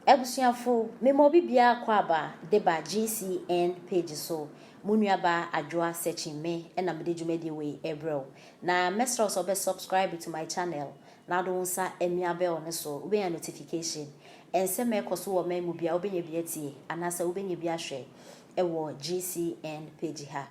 Abusuafo, mema obi biara kwaaba de ba GCN page so, mo nuabaa Adwoa Searching me na mede dwumadie wei rebrɛ wo. Na mɛsrɛ wo sɛ wobɛ subscribe to my channel na wode wo nsa amia bell no so, wobɛnya notification. Nsɛm a ɛkɔ so wɔ ɔman mu biara wobɛnya bi atie anaasɛ wobɛnya bi ahwɛ wɔ GCN page ha.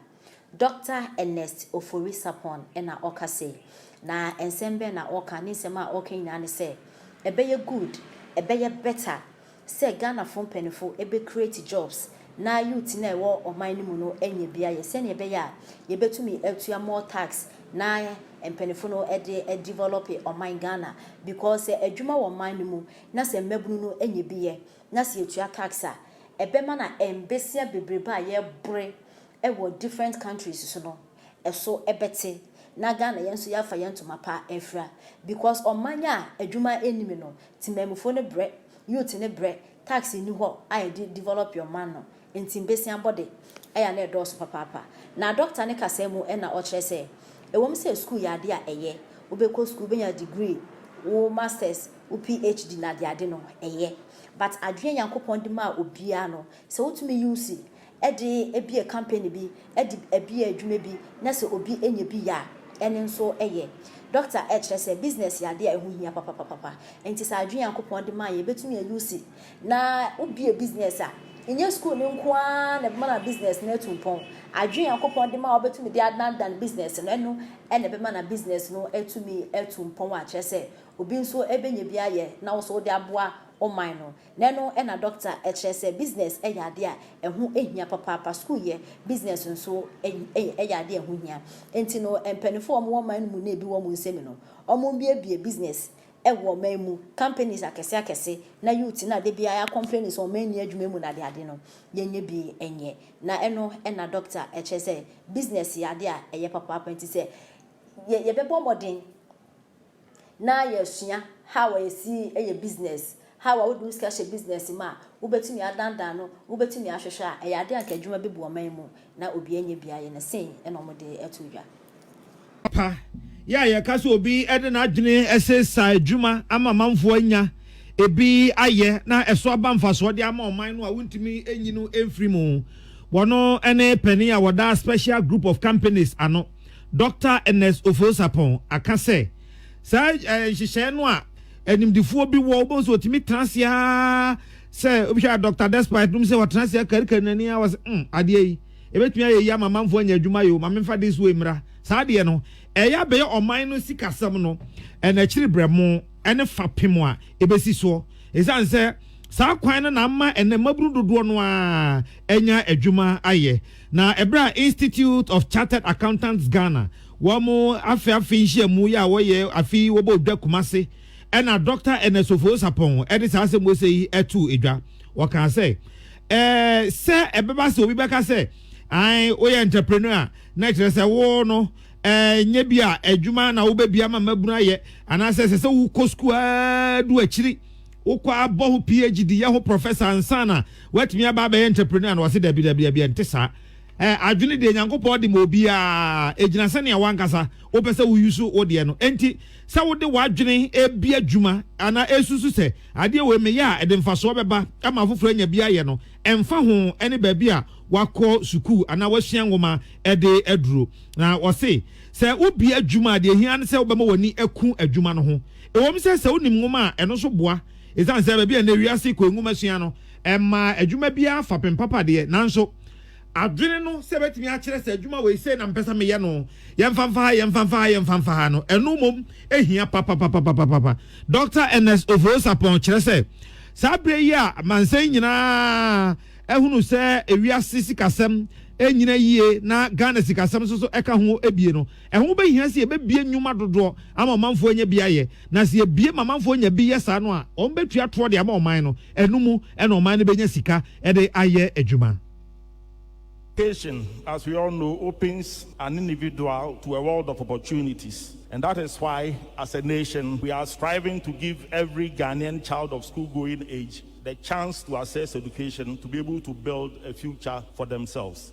Dɔkta Ernest Ofori Sarpong na ɔka sei, na nsɛm bɛn na ɔka? Ne nsɛm a ɔka nyinaa ne sɛ, ɛbɛyɛ good, ɛbɛyɛ better sɛ Ghanafoɔ mpaninfoɔ ɛbɛ create jobs na youth no a ɛwɔ ɔman no mu no anya bi ayɛ sɛdeɛ ɛbɛyɛ a yɛbɛtumi atua more tax na mpaninfoɔ no de develope ɔman Ghana because sɛ adwuma wɔ ɔman no mu na sɛ mmabunu no anya bi yɛ na sɛ yɛtua tax a ɛbɛma na mbesia bebrebe a yɛbore wɔ different countries so no ɛso bɛte na Ghana yɛn nso yɛafa yɛn ntoma pa afira because ɔman a adwuma nnim no temanmufoɔ no brɛ, youth no brɛ, tax nni hɔ a yɛde develop ɔman no nti mbesianbɔde ɛyɛ a na ɛdɔɔso papaapa. Na Doctor ne kasaa mu na ɔkyerɛ sɛ ɛwom sɛ sukuu yɛ adeɛ a ɛyɛ, wobɛkɔ sukuu wobɛnya degree, wo masters, wo PHD na adeade no ɛyɛ but adwene a Nyankopɔn de maa obiara no sɛ wotumi use de bue kampani bi, de bue adwuma bi, na sɛ obi nya bi yɛ a, ɛno nso yɛ. Dɔkta kyerɛ sɛ business yɛ ade a ɛho hia papapapapa. Enti sɛ adwene Nyankopɔn de mae yi yɛbɛtumi a use na wobue business a, ɛnyɛ sukuu no nko ara na ɛbɛma na business no atu mpɔn. Adwene Nyankopɔn de ma a wobɛtumi de adanedane business no, ɛno na ɛbɛma na business no atumi atu mpɔn a kyerɛ sɛ obi nso bɛnya bi ayɛ na wo nso wode aboa wo man no. Dɛn no na dɔkta kyerɛ sɛ business yɛ ade a ɛho hia papaapa? Sukuu yɛ, business nso yɛ ade a ɛho hia. Enti no, mpanyimfo a wɔwɔ man no mu na ebi wɔ wɔn nsam no, wɔmmuebue business wɔ ɔman mu, companies akɛse akɛse, na youth no a da biara yɛ akɔmpleni sɛ ɔman nni adwuma mu no adeade no, yɛnyɛ bi nyɛ. Na ɛno na dɔkta kyerɛ sɛ business yɛ ade a ɛyɛ papaapa. Enti sɛ yɛbɛbɔ mmɔden na yɛasua how a yɛsi yɛ business, how a wode wo sika hyɛ business mu a wobɛtumi adandan no, wobɛtumi ahwehwɛ a, ɛyɛ adeɛ a anka adwuma bɛbu ɔman mu na obiara nyɛ bi ayɛ na sei na wɔde ato dwa. Pa yɛ a yɛka sɛ obi de n'adwene se sa adwuma ama amanfoɔ anya bi ayɛ na ɛso aba mfasoɔ de ama ɔman no a wontumi nyi no mfiri mu. Wɔno ne panin a wɔda Special Group of Companies ano. Dɔkta Ernest Ofori-Sarpong aka sɛ, saa nhyehyɛe no a animdefoɔ bi wɔ, wobɛhu sɛ wɔtumi tena ase ara sɛ wobɛhwɛ a Dɔkta Despite nom sɛ wɔtena ase akarikari n'ani ara wɔ sɛ, mm, adeɛ yi, ɛbɛtumi ayɛ yi ama amanfoɔ anya adwuma yi o, ma memfa this way mmra. Saa adeɛ no, ɛyɛ abɛyɛ ɔman no sikasɛm no ɛna akyiri brɛmo ne fapem a ɛbɛsi soɔ. Ɛsiane sɛ saa kwan no na ama ɛnɛ mmabunu dodoɔ no ara anya adwuma ayɛ. Na ɛberɛ a Institute of Chartered Accountants Ghana wɔn afe afe nhyiamu yɛ a wɔyɛ afe yi wɔbɔɔ dwa Kumasi ɛna Dɔkta Ernest Ofowo-Sapong de saa asɛm wesee yi too edwa. Ɔkaa sɛ, Ɛɛ sɛ ɛbɛba sɛ obi bɛka sɛ ae woyɛ entrepreneur a na ɛkyerɛ sɛ wo no ɛɛ nyɛ bi a adwuma na wobɛdua ma mmabunu ayɛ anaasɛ ɛsɛ sɛ wokɔ sukuu ara du akyiri Wokɔ a bɔ ho PHD, yɛ ho prɔfɛsa ansa na woatumi aba abɛyɛ entrepreneur no? Ɔse, Dabi, dabi, dabi, ɛnte saa. Ɛɛ, adwene deɛ Nyankopɔn de ma obiara, ɛgyina sɛnea w'ankasa wopɛ sɛ wo use wo deɛ no. Enti, sɛ wode w'adwene ɛrebi adwuma anaa ɛresusu sɛ adeɛ wei meyɛ a ɛde mfasoɔ bɛba ama afoforɔ anya bi ayɛ no, ɛmfa ho ɛne baabi a wakɔ sukuu anaa wasua nwoma ɛde aduro. Na ɔse, sɛ wobie adwuma a deɛ ɛhia ne sɛ wobɛma w'ani aku adwuma no ho. Ɛwom sɛ sɛ wonim nwoma a, ɛno nso boa. Esiane sɛ baabi a nnɛ wiase kɔ nwoma sua no, ɛmmaa adwuma biara fapem papa deɛ, nanso adwene no sɛ ebetumi akyerɛ sɛ adwuma wei sei na mepɛ sɛ meyɛ no, yɛmfa mfa ha, yɛmfa mfa ha, yɛmfa mfa ha no, ɛno mmom hia papapapapapa. Dɔkta Ernest Ofori-Sarpong kyerɛ sɛ, Saa bere yi a amansan nyinaa ahunu sɛ wiase sikasɛm nnyina yie na Ghana sikasɛm nso so ka ho abue no, Ɛho bɛhia sɛ yɛbɛbue nnwuma dodoɔ ama ɔmanfoɔ anya bi ayɛ, na sɛ yɛbue ma amanfoɔ nya bi yɛ saa no a, wɔbɛtua toɔ de ama ɔman no, ɛno mu na ɔman no bɛnya sika de ayɛ adwuma. Education, as we all know, opens an individual to a world of opportunities and that is why as a nation we are striving to give every Ghanaian child of school going age the chance to access education to be able to build a future for themselves.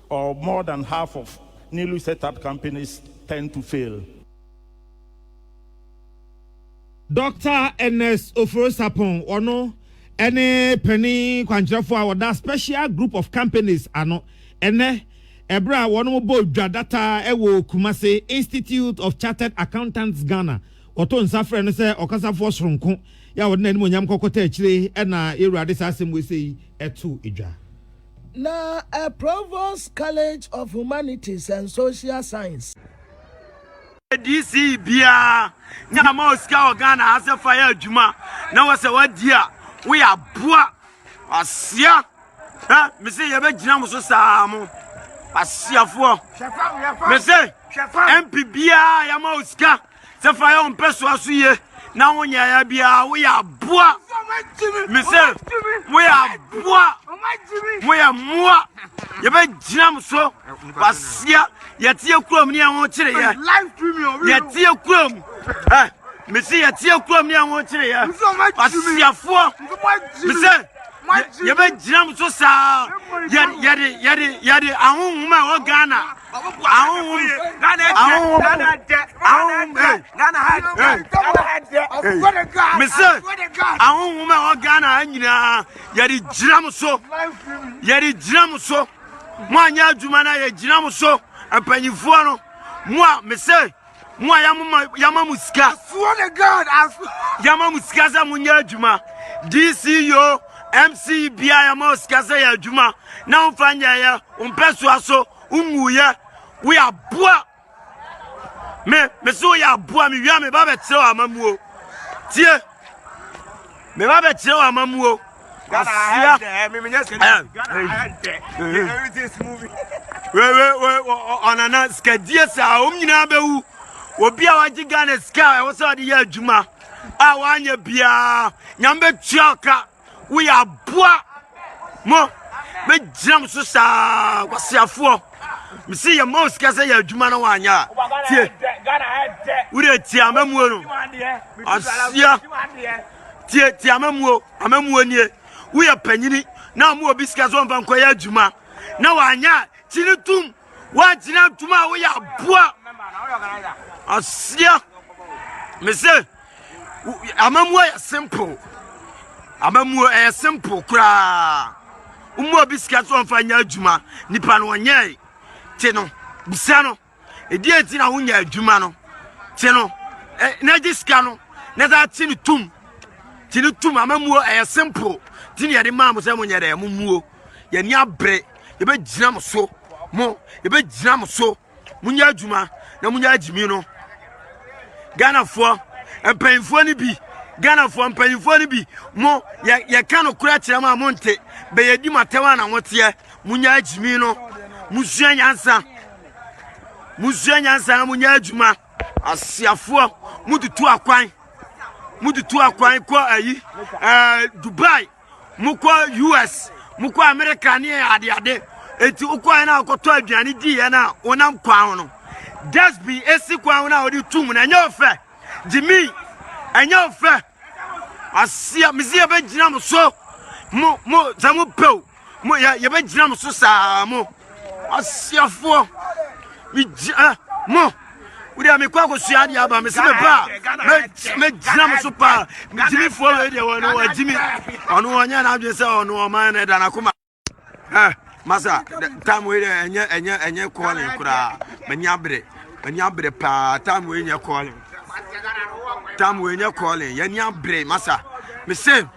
Or more than half of newly set up companies tend to fail. Doctor Ernest Ofori-Sarpong, ɔno ne panin kwankyerɛfoɔ a ɔda Special Group of Companies ano ɛnnɛ ɛberɛ a wɔbɔ dwa data wɔ Kumasi Institute of Chartered Accountants Ghana. Ɔto nsa frɛ no sɛ ɔkasafoɔ soronko yɛ a ɔde n'animuonyam kɔkɔta akyire na yɛn Awurade saa asɛm wei sɛ yi to dwa. Na ɛ Provost College of Humanities and Social Science. DC biara ne ama wɔ sika wɔ Ghana ha sɛ fa yɛ adwuma na wɔ sɛ wadi a woyɛ aboa asia ɛ mese yɛbɛgyina mo so saa mo asiafoɔ mese MP biara yɛama wɔ sika Sɛ fa yɛ wo mpɛsoa so yie na wo nyɛeɛ biara woyɛ aboa. Mesɛ moyɛ aboa, moyɛ mmoa. Yɛbɛgyina mo so kwasia. Yɛteɛ kurom ne yɛn ho kyereɛ. Yɛteɛ kurom. Eh, mesi yɛteɛ kurom ne yɛn ho kyereɛ. Kwasiafoɔ. Mesɛ yɛbɛgyina m so saa yɛde ahonhom a ɛwɔ ghana ahonhom mesɛ ahonhom a ɛwɔ ghana ha nyinaa yɛde gyina m so yɛde gyina m so mo anyɛ adwuma no yɛgyina m so mpanyimfoɔ no mo a mesɛ Mo a yɛama mo sika. Yɛama mo sika sɛ monyɛ adwuma. DCO, MCE bia yɛma sika sɛ yɛ adwuma. Na womfa nyɛeɛ, wompɛ soa so, wonwuiɛ. Woyɛ aboa. Me, me so woyɛ aboa. Mewia me ba bɛkyerɛ wɔ amamuo. Tie. Me ba bɛ kyerɛ wa ma mu o. Ghana ahead there, me menyɛ sɛ ahead there. Everything's moving. We we we ɔnana sikadie saa wɔn nyinaa bɛwu. Obi a wagye Ghana sika a ɛwɔ sɛ ɔde yɛ adwuma a wanyɛ biara nyame bɛtua ɔka. woyɛ aboa mo mɛgyina mo so saa kwaseafoɔ mesi yɛ ma wo sika sɛ yɛ adwuma na woanyɛ a tie wode tie amamuo no aseɛ tie tie amamuo amamuo nie woyɛ panyini na ɔmo obi sika sɛ ɔmfa nkɔyɛ adwuma na woanyɛ a kyi ne tom woagyina tom a woyɛ aboa aseɛ mese Amammuo yɛ simple. Amammuo ɛyɛ simple koraa. Woma obi sika sɛ ɔmfa nyɛ adwuma, nipa no ɔnyɛe. Te no, bisa no, ɛdeɛ nti na wonya adwuma no. Te no, na gye sika no, na saa te no tum. Te no tum, amammuo ɛyɛ simple. Te ne yɛde maa mo sɛ monyɛ dɛ, mommuo. Yɛni abere, yɛbɛgyina mo so, mo, yɛbɛgyina mo so. Monyɛ adwuma na monyɛ agyimi no. Ghanafoɔ mpanyinfoɔ no bi Ghanafoɔ mpanyinfoɔ no bi mo yɛ yɛka no kora kyerɛ mo a monte bɛyɛ di mo atɛm a na moteɛ. Monyɛ agyimi no. Mosua nyansa. Mosua nyansa na monyɛ adwuma. Asiafoɔ motutu akwan motutu akwan kɔ ayi ɛɛ Dubai. mokɔ us mokɔ america ne adeade enti wokɔɛ no a wokɔtɔ aduane diiɛ no a wonam kwan ho no dustbin ɛsi kwan ho no a wode tu mu no ɛnyɛ ɔfɛ gyimi ɛnyɛ ɔfɛ aseɛ mese yɛbɛgyina mo so mo mo sɛ mo pɛw mo yɛbɛgyina mo so saa mo Asiafoɔ, megyina mo wode a mekɔ akɔsua adeɛ aba mesɛ meba a mɛgyina mo so paa megyimifoɔ wei deɛ wɔne wagyimi ɔno ɔnyɛ no adwene sɛ ɔno ɔman no ɛda no akoma masa tam wei deɛ ɛnyɛ ɛnyɛ ɛnyɛ kɔɔlen koraa m'ani abere m'ani abere paa tam wei nyɛ kɔɔlen tam wei nyɛ kɔɔlen yɛani abere masa mesɛ